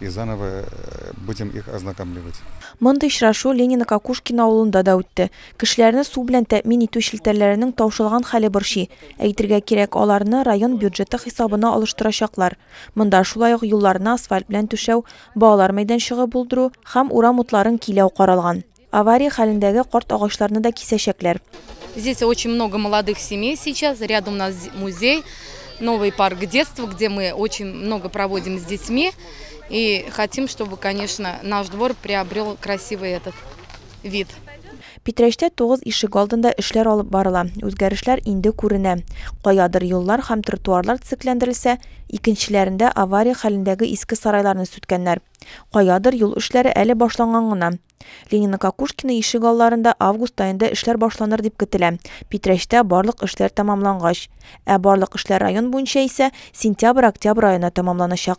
И заново будем их ознакомливать. Мондый очрашу Ленино Кокушкино авылында да үтте. Кешеләрне су белән тәэмин итү челтәрләренең таушалган хәле борчый. Әйтергә кирәк, аларны район бюджеты хисабына алыштырачаклар. Монда шулай ук юлларны асфальт белән түшәү, балалар мәйданчыгы булдыру һәм урам утларын киләү каралган. Авария хәлендәге карт агачларны да кисәчәкләр. Здесь очень много молодых семей сейчас, рядом у нас музей, новый парк детства, где мы очень много проводим с детьми. И хотим, чтобы, конечно, наш двор приобрел красивый этот вид. Питрәчтә тугыз ишек алдында эшләр алып барыла. Үзгәрешләр инде күренә. Каядыр юллар һәм тротуарлар төзекләндерелсә, икенчеләрендә авария хәлендәге иске сарайларны сүткәннәр. Каядыр юл эшләре әле башланган гына. Ленино-Кокушкино ишек алларында август аенда эшләр башланыр дип көтелә, Питрәчтә барлык эшләр тәмамлангач. Ә барлык эшләр район буенча исә сентябрь-октябрь аена тәмамланачак.